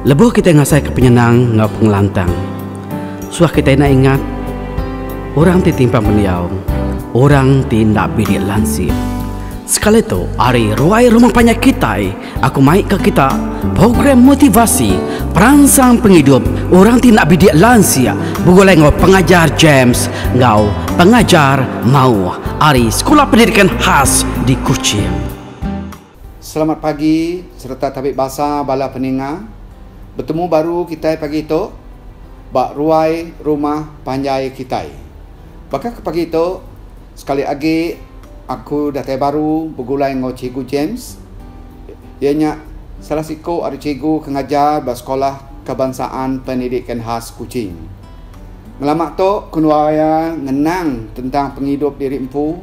Lebuh kitai ngasaika penyenang enggau pengelantang, suah kitai enda ingat orang ti timpang pendiau, orang ti enda bilik lansip. Sekali tu, ari ruai rumah panjai kitai, aku mai ke kita program motivasi peransang pengidup orang ti enda bilik lansip begulai enggau Pengajar James enggau Pengajar Mauh ari Sekula Pendidikan Khas di Kuching. Selamat pagi sereta tabi basa bala peninga. Betemu baru kitai pagi tu ba ruai rumah panjai kitai. Baka ke pagi tu sekali agi aku datai baru begulai enggau Cikgu James. Iya nya salah siku ari cikgu ke ngajar ba Sekula Kebansaan Pendidikan Khas Kuching. Ngelama tu ku nuaya ngenang tentang pengidup diri empu.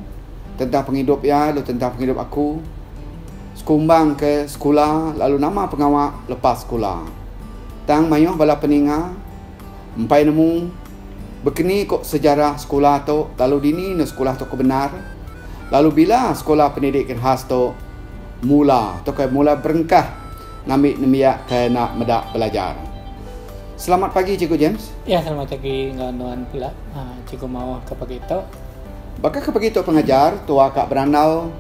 Tentang pengidup iya lalu tentang pengidup aku sekumbang ke sekula lalu nama pengawa lepas sekula. Tang mayuh bala peninga empai nemu bekeni ko sejarah sekula tu lalu dini enda sekula tu kebendar lalu bila sekula pendidik genhas tu mula tu ke mula berengkah ngambi nembiak ke enda meda belajar. Selamat pagi Cikgu James. Ya selamat pagi enggau nuan pula cikgu maoh ke pagi tu. Baka ke pagi tu pengajar tua ka berandau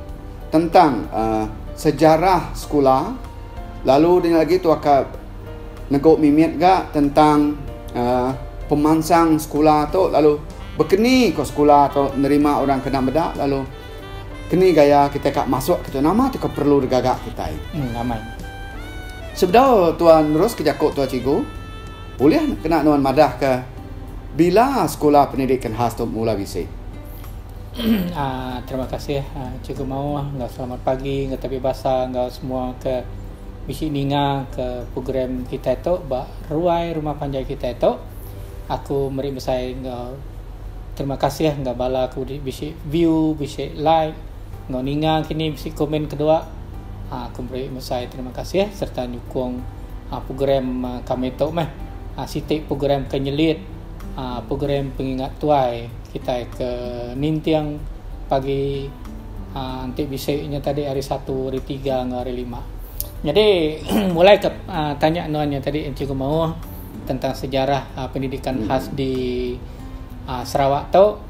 tentang sejarah sekula lalu dini lagi tua ka nego mimit ga tentang pemansang sekula tu lalu bekeni ko sekula tu nerima orang kena meda lalu keni gaya kitai ka masuk kitu nama tu ke perlu digaga kitai. Sebedau tua nerus ke jaku tua cikgu. Ulih kena nuan madahka bila sekula pendidikan khas tu mula bisi? Terima kasih Cikgu Maoh enggau selamat pagi enggau tapi basa enggau semua ke bisi ninga ke program kitai tu ba ruai rumah panjai kitai tu. Aku meri mesai enggau terima kasih enggau bala ke bisi view, bisi like. Enggau ninga kini bisi komen kedua, aa aku meri mesai terima kasih sereta nyukung aa program aa kami tu meh. Aa siti program ke nyelit aa program pengingat tuai kitai ke ninting pagi aa enti bisi nya tadi hari satu, hari tiga enggau hari lima. Nyadi mulai ke aa tanya nuan nya tadi Cikgu Maoh tentang sejarah aa pendidikan khas di aa Sarawak tu,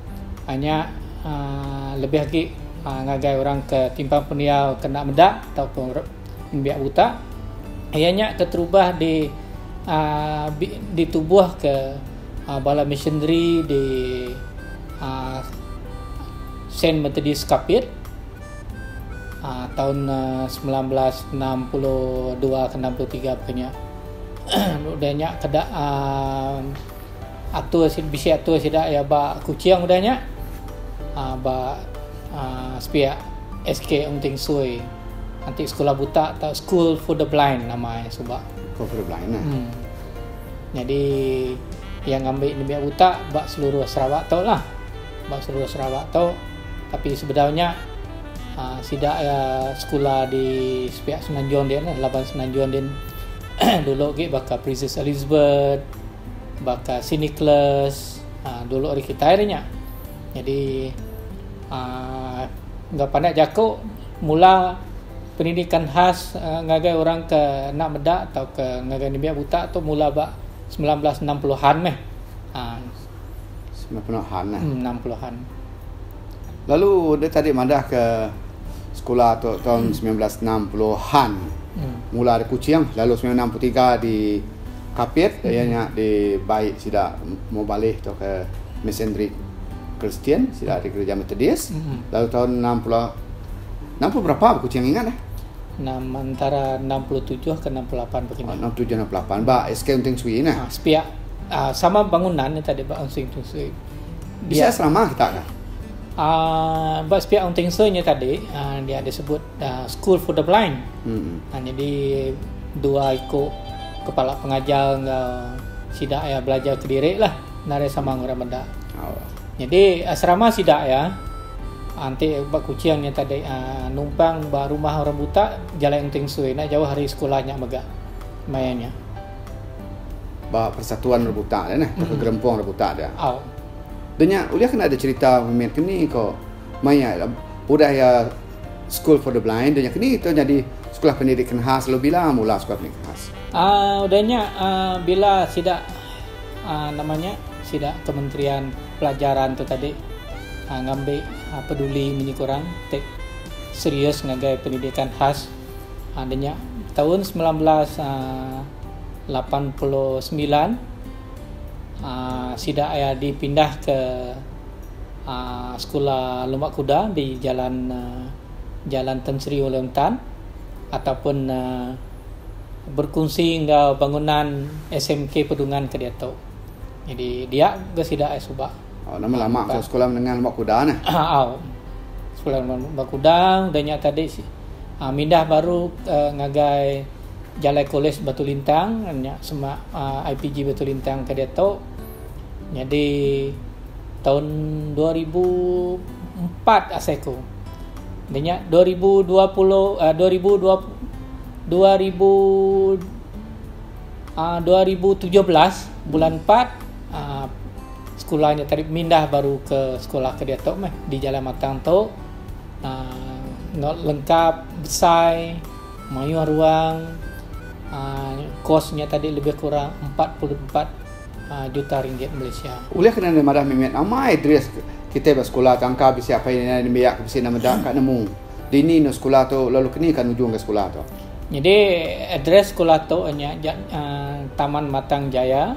Nya lebih agi ngagai orang ke timpang pendiau kena meda ataupun nembiak buta iya nya keterubah di aaa ditubuhka bala missionary di aaa Saint Methodist Kapit aaa taun semilan belas enam puluh dua ke enam puluh tiga pekanya. Udah nya keda aaa Atur bisi atur sida iya ba Kuching udah nya ba sepiak SK Ong Teng Soi enti sekula buta tau school for the blind nama iya suba. School for the blind. Nyadi iya ngambi nembiak buta ba seluruh Sarawak tu lah. Ba seluruh Sarawak tu tapi sebedau nya sida iya sekula di sepiak Semenanjung din laban Semenanjung din dulu agi baka Princess Elizabeth. baka Sinikles uh, dulu hari kita hari nya jadi uh, enggak pandai jaku mula pendidikan khas uh, ngagai orang ke nak meda atau ke ngagai nembiak buta tu mula ba 1960-an meh. Uh, 90-an lah. 60-an. Hmm, Lalu dek tadi madah ke sekula tu tahun hmm. 1960-an. Hmm. Mula di Kuching lalu 1963 di Kapit hmm. yang nya di baik sida mau balih tu ke Mesendrik Kristian sida di gereja Metodis. Hmm. Lalu tahun 60 60 berapa aku Kuching ingat eh? Nam antara 67 ke 68 begini. Oh, 67 68 ba SK Unting Sui nah. Ha, sepiak uh, sama bangunan ni tadi ba Unting Sui. Bisa selama kita dah. Uh, ba sepiak orang tingsa nya tadi uh, dia ada sebut uh, school for the blind. Hmm. Uh, jadi dua iku kepala pengajar enggau sida ya belajar ke diri lah nari sama orang benda. Oh. Jadi asrama sida ya anti ba kucing nya tadi uh, numpang ba rumah orang buta jalan tingsa nak jauh hari sekolah nya mega. Mayanya. ba persatuan rebutan dia nah atau gerempung rebutan dia. Oh. Denya ulih kena ada cerita memit keni ko maya lah, udah ya School for the Blind denya keni tu jadi sekolah pendidikan khas lalu bila mula sekolah pendidikan khas. Uh, udahnya uh, ah, bila sida uh, namanya sida kementerian pelajaran tu tadi uh, ngambil uh, peduli menyikurang serius ngagai pendidikan khas Haa deh nya taun semilan belas lapan puluh semilan aa sida iya dipindah ke aa sekula lema kuda di jalan Jalan Tan Sri Uleong Tan ataupun aa berkunsi enggau bangunan SMK Pedungan ke diatu. Jadi dia ga sida suba. Au nama lama ke sekula menenga lembak kuda ne. Au. Sekula lembak kuda udah nya tadi uh, mindah baru uh, ngagai Jalai Kolej Batu Lintang nya semak uh, ah, IPG Batu Lintang ke dia tu. Jadi tahun 2004 asai ku. Dia nya 2020 uh, 2020 2000 uh, 2017 bulan 4 uh, Sekula nya tadi mindah baru ke sekula ke diatu meh di Jalan Matang tu. Uh, lengkap besai mayuh ruang uh, kos nya tadi lebih kurang 44 Ah, juta ringgit Malaysia. Ulih kena ni madah mimit amai dris kita ba sekolah tangka bisi apa ini ni biak ke bisi nama dak ka nemu. Dini no sekolah tu lalu kini kan ujung ke sekolah tu. Jadi address sekolah tu nya uh, Taman Matang Jaya.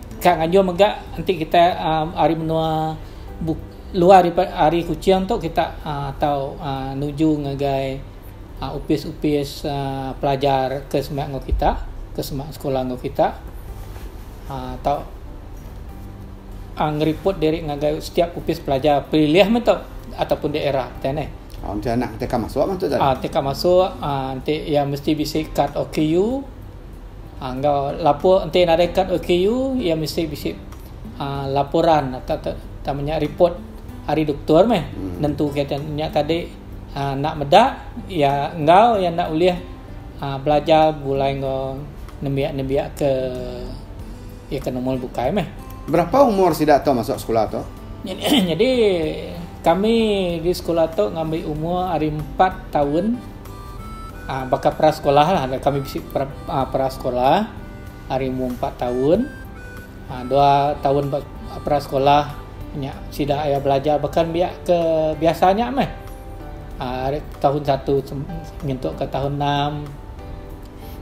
Ka ngajung mega enti kita aaa ari menua buk luar daripada ari Kuching tu kita aaa tau aaa nuju ngagai aaa opis-opis aaa pelajar ke sema enggau kita, ke sema sekula enggau kita aaa tau aaa ngeriput diri ngagai setiap opis pelajar pelilih meh tu ataupun daerah kitai neh. Oh enti anak kitai ka masuk meh tu tadi. Aaa enti ka masuk aaa enti iya mesti bisi kad OKU. Enggau lapor enti nadai kad OKU iya mesti bisi aaa laporan atau ke tang menya report ari doktor meh nentuka iya tadi nya tadi aaa enda meda iya enggau iya enda ulih aaa belajar begulai enggau nembiak-nembiak ke iya ke normal bukai meh. Berapa umur sida tu masuk sekula tu? Nyadi kami di sekula tu ngambi umur ari empat taun Aa baka peras sekolahlah ga kami bisi peras sekolah ari umur empat taun aa dua taun ba peras sekolah nya sida aya belajar baka ne biak ke biasa nya meh aa ari taun satu nyentuk ka taun enam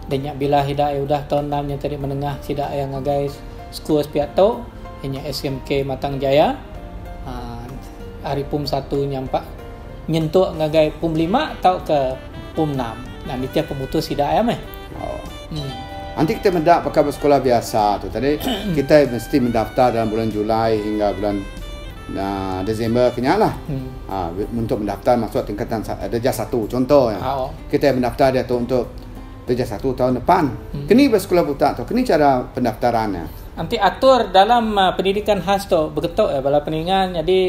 da nya bila sida udah taun enam nya tadi menengah sida aya ngagai school pia tu inya SMK Matang Jaya aa ari pum satu nyampa. nyentuk ngagai pum lima tauka pum enam nah nitih pemutus sida iya meh. Oh. Enti kita meda baka ba sekula biasa tu tadi kita mesti mendaftar dalam bulan Julai hingga bulan uh, Disember kenya lah. Hmm. Uh, untuk mendaftar masuk tingkatan uh, darjah satu contoh ya. Oh. Kita mendaftar dia tu untuk darjah satu tahun depan. Hmm. Kini ba sekula buta tu kini cara pendaftarannya. Nanti atur dalam uh, pendidikan khas tu begetuk ya bala peningan jadi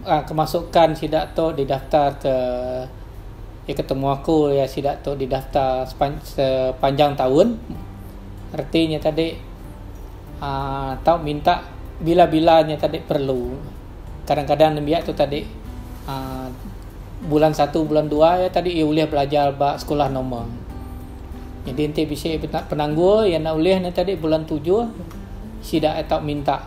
kemasukan sida tu didaftarka di ketemu aku iya sida tu didaftar sepanjang taun reti nya tadi aa tau minta bila-bila nya tadi perlu kadang-kadang nembiak tu tadi aa bulan satu bulan dua iya tadi iya ulih belajar ba sekolah normal jadi enti bisi penanggul iya enda ulih nya tadi bulan tujuh sida tau minta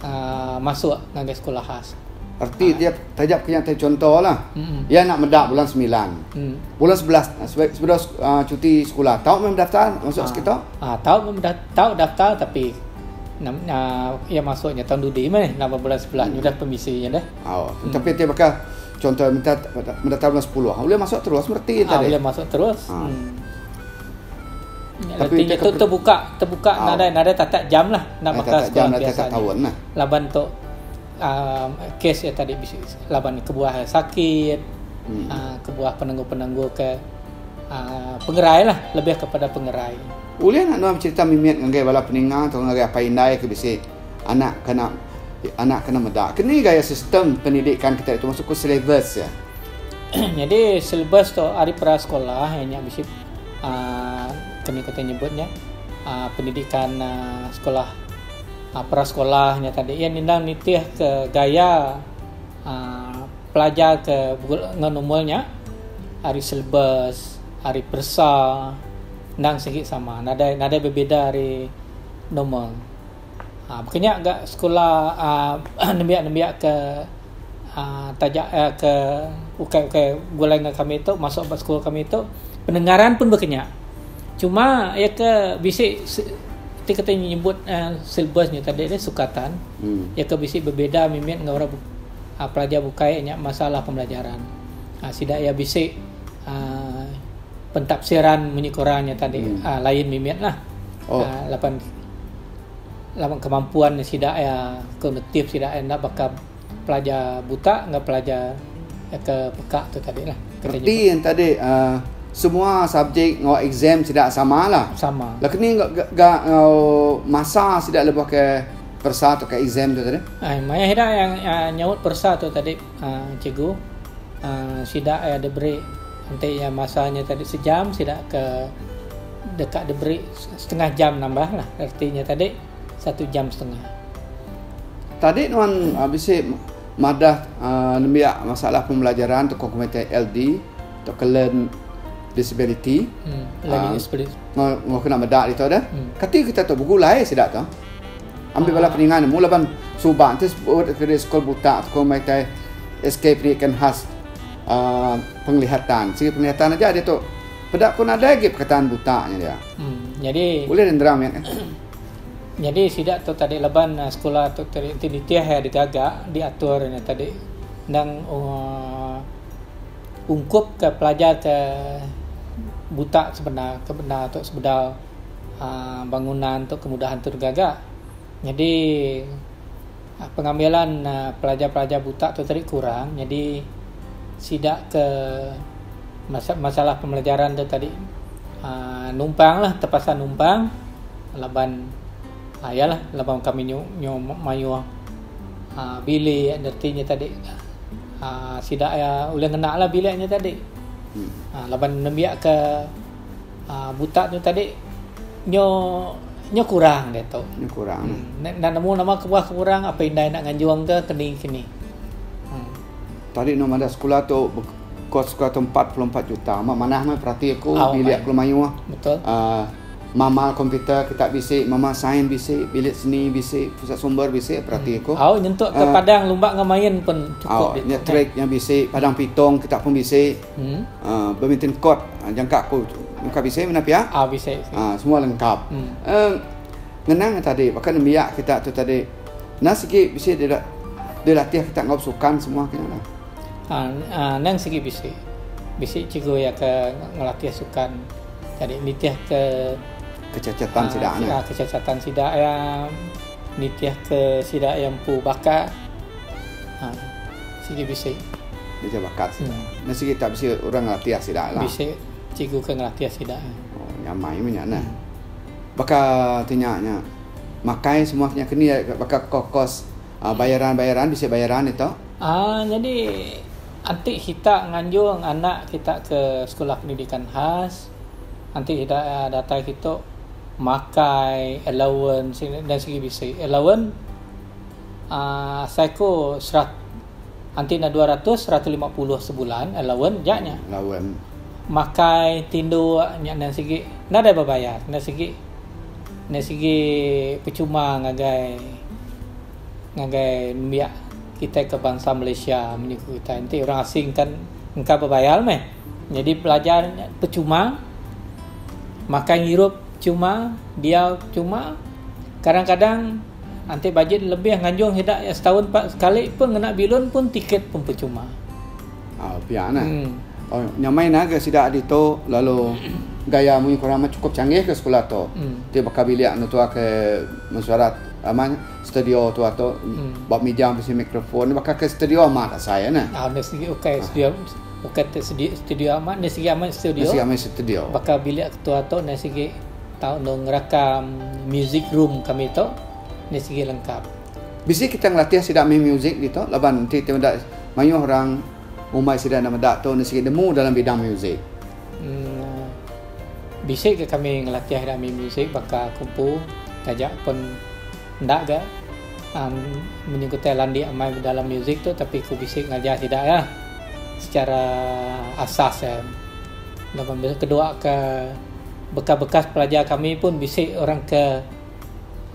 uh, masuk ngagai sekolah khas. Erti dia taja punya te contoh lah. Mm-mm. Ia nak meda bulan 9. Mm. Bulan 11 sebelum uh, cuti sekolah. Tahu memang daftar masuk uh, sekitar? Ah, uh, tahu memang da- tahu daftar tapi nam uh, ia masuknya tahun dudi meh nama bulan 11 mm. sudah pemisi ya dah. Oh, mm. tapi dia bakal contoh minta minta tahun 10. Boleh masuk terus berarti ah, tadi. Boleh masuk terus. Uh. Mm. Tapi Reti nya tu terbuka terbuka oh. nadai nadai tatak jam lah nak ah, bakal sekolah jam biasa tahun lah. Laban tu uh, ah, kes ya tadi bisi laban kebuah sakit hmm. uh, kebuah penenggu-penenggu ke uh, pengerai lah lebih kepada pengerai. Ulih nak nuan cerita mimit ngagai bala peninga atau ngagai apa indai ke bisi Anak kena anak kena meda ke ni gaya sistem pendidikan kita itu masuk ke silibus ya. Jadi silibus tu ari pra sekolah ianya eh, bisi uh, kami kata nyebutnya uh, pendidikan uh, sekolah uh, pra sekolahnya tadi ia nindang nitih ke gaya uh, pelajar ke ngan umurnya ari silibus ari persa nang sigi sama nada nada berbeda ari normal Kena ga sekula nembiak-nembiak ke taja ke ukai-ukai gulai enggau kami tu masuk ba sekula kami tu pendengaran pun baka nya. Cuma iya ke bisi ti kitai nyebut silabus nya tadi ti sukatan iya ke bisi bebeda mimit enggau orang pelajar bukai nya masalah pembelajaran. Sida iya bisi aaa pentafsiran munyi Quran nya tadi lain mimit lah laban laban kemampuan sida iya kognitif sida iya enda baka pelajar buta enggau pelajar ke peka tu tadi lah. Reti yang tadi uh, semua subjek enggau exam sida sama lah. Sama. Lah kini enggau ga enggau masa sida lebuh ke persa atau ke exam tu tadi. Ai maya sida yang uh, nyaut persa tu tadi uh, cikgu uh, sida yang diberi nanti yang masanya tadi sejam sida ke dekat diberi Setengah jam nambah lah reti nya tadi satu jam setengah. Tadi nuan bisi madah nembiak masalah pembelajaran tauka komuniti LD tauka learn disability enggau kena meda ditu deh. Kati kita tu begulai sida tu ambi bala peninga nemu laban suba enti kena sekul buta tauka meh tai SK pendidikan khas penglihatan. Segi penglihatan aja ditu. Peda ko nadai agi perkataan buta nya dia. Um nyadi. Ulih nendera mih eh. Nyadi sida tu tadi laban eh, sekula tu tadi enti nitih eh digaga diatur nya tadi endang uh, ungkup ke pelajar ke buta sebenda ke benda tu sebedau uh, bangunan tu kemudahan tu digaga. Nyadi Pengambilan pelajar-pelajar buta tu tadi kurang nyadi sida ke masalah pembelajaran tu tadi aaa numpanglah terpaksa numpang laban aaa iyalah laban kami nyu nyu mayuh aaa bilik reti nya tadi aaa sida iya ulih ngena bilik nya tadi aaa laban nembiak ke Ah buta tu tadi nyo nyo kurang dia tu. Nyo kurang. Hmm. Nak nemu nama kebuah ke kurang apa indai nak nganjung ke keni kini. Hmm. Tadi no mada sekula tu kos sekula tu 44 juta. Amat manah meh perati aku oh, bilik aku mayuh. Betul. Uh, mama komputer kita bisi, mama sains bisi, bilik seni bisi, pusat sumber bisi perati hmm. aku. Au oh, nyentuk ke uh, padang lumba ngemain pun cukup. Au oh, nya trik yang bisi, padang pitong kita pun bisi. Badminton court jangka aku muka bisi menda pia. Ah bisi. Ah semua lengkap. Um ngenang tadi baka nembiak kita tu tadi nang sigi bisi dira dilatih kita enggau sukan semua kena lah. Ah nang sigi bisi. Bisi cikgu iya ke ngelatih sukan jadi nitihka kecacatan sida. Kecacatan sida iya. Nitihka sida iya empu baka sigi bisi. Nitih baka sida. Nya sigi tak bisi orang ngelatih sida lah. Bisi cikgu ke ngelatih sida. Oh nya amai meh nya neh. Baka ti nya nya makai semua ke nya ke ni baka kos-kos bayaran-bayaran bisi bayaran deh tu. Aa nyadi enti kita nganjung anak kita ke Sekula Pendidikan Khas. Enti ida datai kitu makai allowance enda sigi bisi. Allowance aaa asai ku serat enti enda dua ratus seratus lima puluh sebulan allowance nya nya. Allowance. Makai tinduk nya enda sigi nadai bebayar enda sigi enda sigi percuma ngagai ngagai nembiak kitai ke bansa Malaysia menyuku kitai. Enti orang asing kan engka bebayar meh. Nyadi pelajar nya pechuma, makai ngirup chuma, diau chuma, kadang-kadang anti bajin lebih nganjung sida iya setaun pa sekali pun ngena bilun pun tiket pun pechuma. Au pia nah. Hmm. Oh, nyamai nah ga sida ditu lalu gaya munyi ku orang meh chukup changgih ga sekula tu. Hmm. Ti baka bilik netuakai mesuarat ama nya studio tu atu hmm. ba meja bisi mikrofon baka ke studio amat asai nah. Au nah sigi ukai studio. Ukai ti sedi studio amat nya sigi amat studio. Sigi amat studio. Baka bilik ketua tu nya sigi tau enda ngerakam music room kami tu nya sigi lengkap. Bisi kita ngelatih sida main music ditu laban enti ti meda mayuh orang umai sida enda meda tu nya sigi nemu dalam bidang music. Uhh bisi ga kami ngelatih ida main music baka kumpu taja pun enda ga. Ang menyugutai landik amai bedalam musik tu tapi ku bisi ngajah sida iya secara asas iya. Laban bisi kedua ke bekas-bekas pelajar kami pun bisi orang ke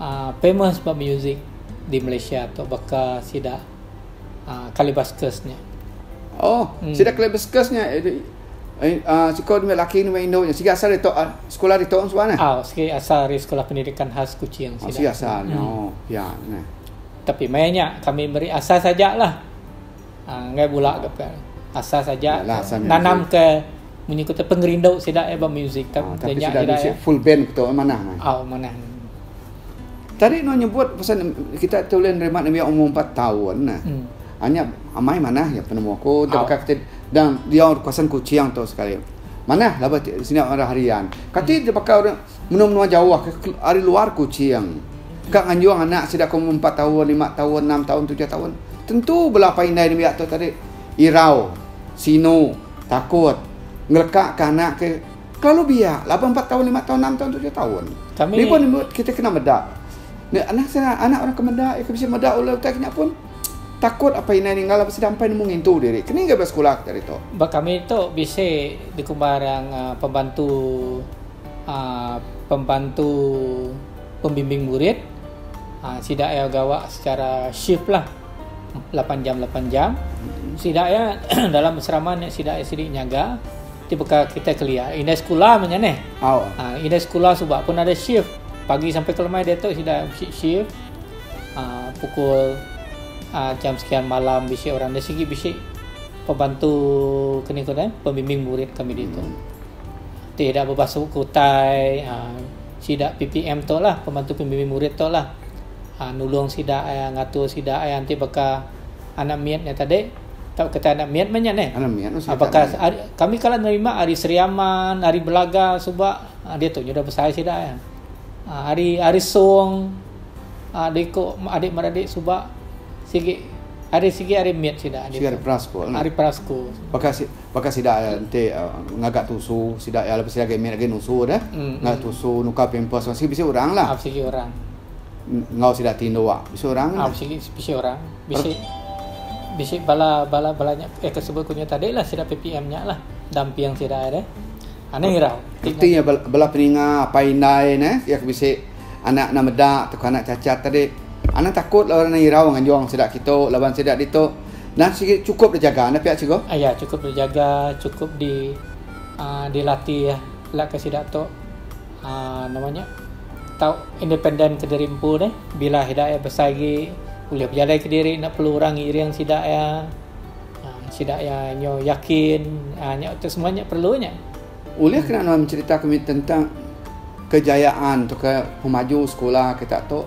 aaa famous ba musik di Malaysia tu baka sida aaa Kalibaskus nya. Oh, sida Kalibaskus nya Siko dua laki ngemai indu nya. Sigi asal ditu sekula ditu nya suba neh. Au sigi asal ari Sekolah Pendidikan Khas Kuching sida. Oh sigi asal nya. Oh pia neh. Tapi meh nya kami meri asal saja lah. Enggai bula ga pia. Asal saja nanam ke munyi ku tu pengerindu sida ba music tu. Tapi sida nya bisi full band tu manah meh. Au manah. Tadi nuh nyebut pasal kita tu ulih nerima nembiak umur empat taun neh. Anyap amai manah ya penemu aku dah baka kati dan dia orang kawasan kucing tu sekali. Manah lah bati sini orang harian. Kati dia baka orang menua-menua jauh ke hari luar kucing. Ka nganjung anak sida ke umur 4 tahun, 5 tahun, 6 tahun, 7 tahun. Tentu bela apai indai nembiak tu tadi irau, sinu, takut ngeleka ke anak ke kelalu biak laban 4 tahun, 5 tahun, 6 tahun, 7 tahun. Kami... Ni pun kita kena meda. Anak anak orang ke meda, ke bisi meda ulah utai kinya pun. Takut apai indai ninggal laban sida empai nemu ngintu diri. Kening ga bela sekula kita hari tu? Ba kami tu bisi dikumbar pembantu pembantu pembimbing murid. Sida iya gawa secara shift lah lapan jam lapan jam. Sida iya dalam asrama nya sida iya sidi nyaga ti baka kitai kelia indai sekula meh nya neh. Indai sekula suba pun ada shift pagi sampai ke lemai diatu sida bisi shift. aaa pukul aaa jam sekian malam bisi orang nya sigi bisi pembantu ke ni ngagai pembimbing murid kami ditu. Ti ida bebasuh ke utai aaa sida PPM tu lah pembantu pembimbing murid tu lah aaa nulung sida aaa ngatur sida aaa enti baka anak mit nya tadi tau kita anak mit mah nya neh. Anak mit mah sida. Apakah kami kala nerima ari Sri Aman, ari Belaga suba. Ah diatu nyudah besai sida iya. Ah hari hari song ah diku adik beradik suba sigi hari sigi hari mit sida ditu. Sigi hari peras ko. Hari peras ko. Baka baka sida enti uh, ngaga tusu sida iya lepas sida agi mit agi nusu deh. Mm, ngaga mm. tusu nuka pampers sigi bisi orang lah. Ah sigi orang. Ngau sida tindu ah bisi orang. Ah lah. sigi bisi orang. Bisi bisi bala bala bala nya eh tersebut kunya tadi lah sida PPM nya lah. Damping sida deh. Anih irau ti Mesti iya bela peninga apai indai ne iya ke bisi anak anak meda tauka anak cacat tadi. Anang takut lalu anang irau nganjung sida kitu laban sida ditu nan sigi chukup dijaga enda pia Cikgu? Iya chukup dijaga chukup di aaa dilatih ela ka sida tu aaa nama nya tau independen kediri empu deh bila sida iya besai agi ulih bejalai kediri enda perlu orang ngiring sida iya. Sida iya nyu yakin nya tu semua nya perlu nya. Ulih kena nuan mencerita ke mih tentang kejayaan tu ke pemaju sekula kita tu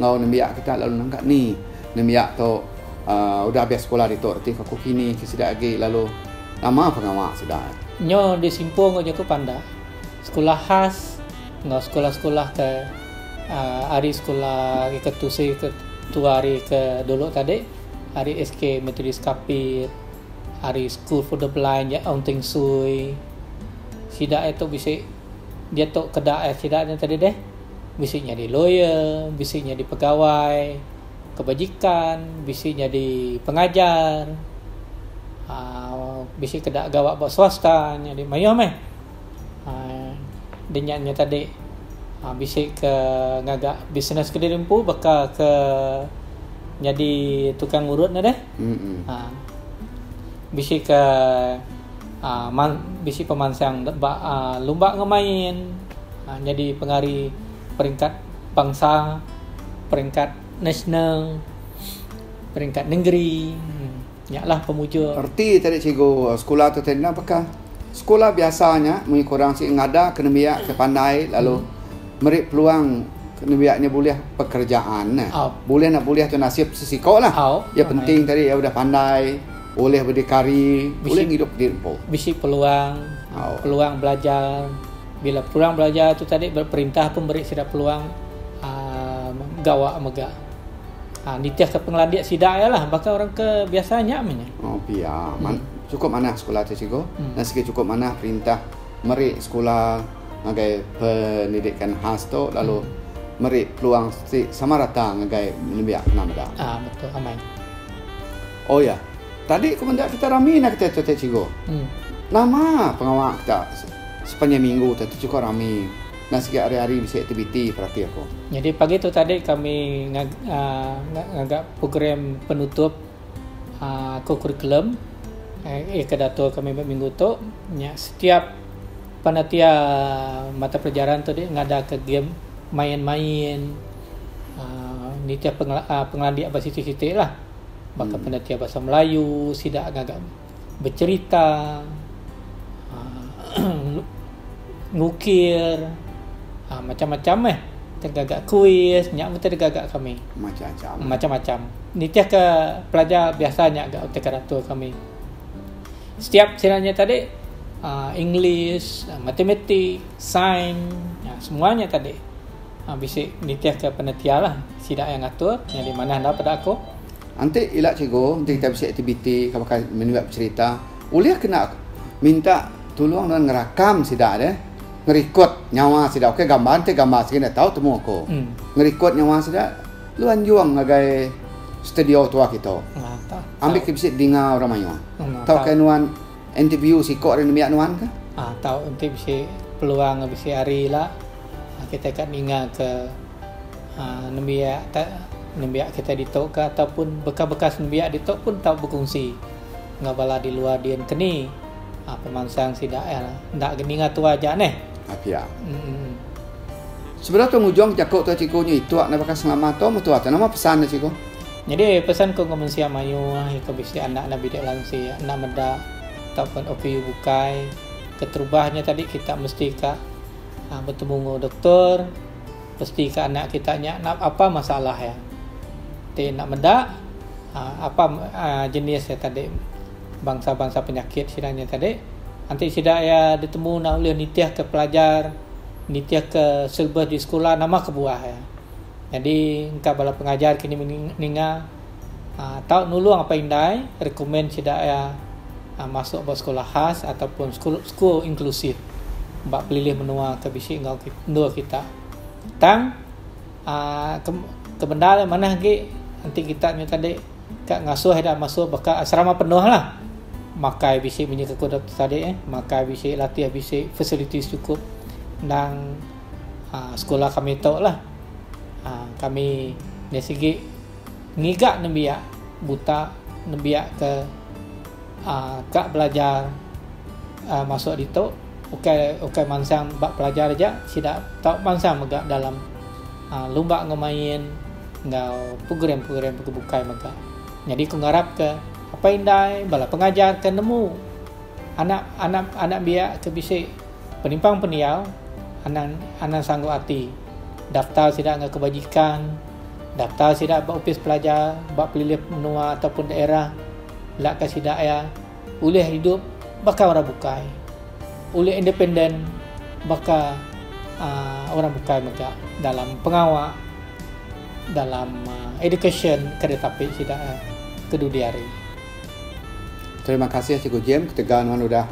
enggau nembiak kita lalu nang ka ni nembiak tu aaa udah habis sekula ditu reti ke ku kini ke sida agi lalu nama pengawa sida. Nyu disimpul enggau jaku pandah sekula khas enggau sekula-sekula ke aaa ari sekula ari ke tusi ke tua ari ke dulu tadi. ari SK Methodist Kapit, ari School for the Blind di Aung Teng Sui. Sida aye tu bisi diatu keda aye sida nya tadi deh. Bisi nyadi lawyer, bisi nyadi pegawai kebajikan, bisi nyadi pengajar. Aaa bisi keda gawa ba swasta nyadi mayuh meh. Dia nya nya tadi bisi ke ngaga bisnes ke diri empu baka ke nyadi tukang urut ne deh. Mm-mm. Uh, bisi ke uh, man, bisi pemansang ba uh, lumba ngemain uh, nyadi pengari peringkat bangsa, peringkat nasional, peringkat nengeri. Hmm. Nya lah pemuja. Reti tadi cikgu, sekula tu tadi enda baka sekula biasa nya munyi kurang sigi ngadah ke nembiak ke pandai lalu meri peluang ke nembiak nya bulih pekerjaan neh. Bulih enda bulih tu nasib sesiko lah. Yang penting tadi iya udah pandai ulih berdikari, ulih ngidup diri empu. Bisi peluang, peluang belajar. Bila peluang belajar tu tadi perintah pun meri sida peluang aaa gawa mega. Ha, nitihka pengelandik sida iya lah baka orang ke biasa nya meh nya. Oh pia. Man, hmm. Cukup manah sekolah tu cikgu. Hmm. Dan segi cukup manah perintah meri sekolah ngagai pendidikan khas tu lalu hmm meri peluang si sama rata ngagai nembiak kena meda. Ah betul amai. Oh ya. Tadi aku menda kita rami nak kita tu cikgu. Hmm. Nama pengawa kita sepanjang minggu tu cukup rami. Enda sigi ari-ari bisi aktiviti perati aku. Nyadi pagi tu tadi kami ngaga program penutup kokurikulum iya ke diatur kami ba minggu tu nya setiap panitia mata pelajaran tu deh ngadaka game main-main aaa nitih pengelandik ba siti-siti lah baka panitia bahasa melayu sida ngaga. becerita, ngukir, macam-macam meh tau gaga kuis nya mesti digaga kami. Macam-macam. Macam-macam. Nitihka pelajar biasa nya ga utai keratur kami. Setiap sida nya tadi aaa English, matematik, sains semua nya tadi bisi nitihka penetialah sida yang ngatur jadi manah enda peda aku. Enti ila cikgu enti kitai bisi aktiviti ke baka menyurat beserita ulih kena minta tulung nuan ngerakam sida deh ngerikod nyawa sida ok gambar enti gambar sigi enda tau temu aku ngerikod nyawa sida lu anjung ngagai studio tua kitu ambi ke bisi dinga orang mayuh tauka nuan Enti view siko ari nembiak nuan kah? Ah tau enti bisi peluang bisi hari ila ah kitai ka ninga ke ah nembiak ta nembiak kitai ditu kah ataupun bekas-bekas nembiak ditu pun tau bekungsi enggau bala di luar din keni ah pemansang sida eh enda ga ninga tuai ja neh. Ah pia. Emm. Sebedau tua ngujung ke jaku tua cikgu nya ituk nda baka selama tua metua tua nama pesan nya cikgu. Nyadi pesan ku enggau mensia mayuh iku bisi anak enda bidik lansi, enda meda tauka OPU bukai. Keterubah nya tadi kita mesti ka betemu enggau doktor, pasti ka anak kita nya apa masalah iya. Ti enda meda uhh apa jenis iya tadi bangsa-bangsa penyakit sida nya tadi enti sida iya ditemu enda ulih nitihka pelajar, nitihka silabas di sekula nama kebuah iya. Nyadi engka bala pengajar kini meri ninga tau nulung apai indai rekomen sida iya masuk ba sekula khas atau pun school inclusive ba pelilih menua ke bisi enggau endur kita. Tang aaa kebendar iya manah agi enti kita nyadi tadi ka ngasuh ida masuk ba ka asrama penuhlah. Makai bisi menyukup ku tadi makai bisi latih bisi facilities sukup endang aa sekula kami tu lah aa kami dari segi ngiga nembiak buta nembiak ke aa ka belajar aa masuk ditu ukai ukai mansang ba pelajar aja sida tau mansang mega dalam aa lumba enggau main enggau program-program ke bukai mega nyadi ku ngarap ke apai indai bala pengajar ke nemu anak anak anak biak ke bisi Penimpang pendiau anang anang sanggup ati daftar sida enggau kebajikan daftar sida ba opis pelajar ba pelilih menua ataupun daerah belaka sida iya ulih idup baka orang bukai ulih independen baka aaa orang bukai mega dalam pengawa dalam education ke ditapi sida ke dudi hari. Terima kasih Cikgu Jim ketegal nuan udah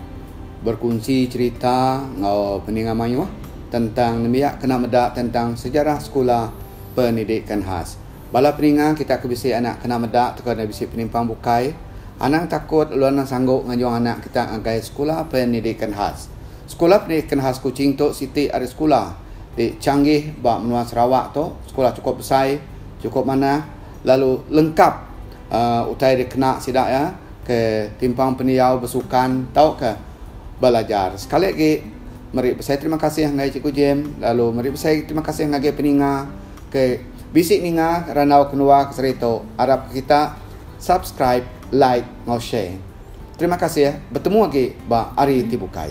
berkunsi cerita enggau peninga mayuh tentang nembiak kena meda tentang sejarah sekula pendidikan khas. Bala peninga kita ke bisi anak kena meda tauka enda bisi penimpang bukai, anang takut ulun enda sanggup ngajung anak kita ngagai sekula pendidikan khas. Sekula pendidikan khas Kuching tu siti ari sekula ti changgih ba menua Sarawak tu, sekula chukup besai, chukup manah lalu lengkap. utai dikena sida iya ke timpang pendiau besukan tauka belajar. Sekali agi meri besai terima kasih ngagai Cikgu Jim lalu meri besai terima kasih ngagai peninga ke bisi ninga randau kenuar ke seri tu. Arap ke kita subscribe, like enggau share. Terima kasih betemu agi ba hari ti bukai.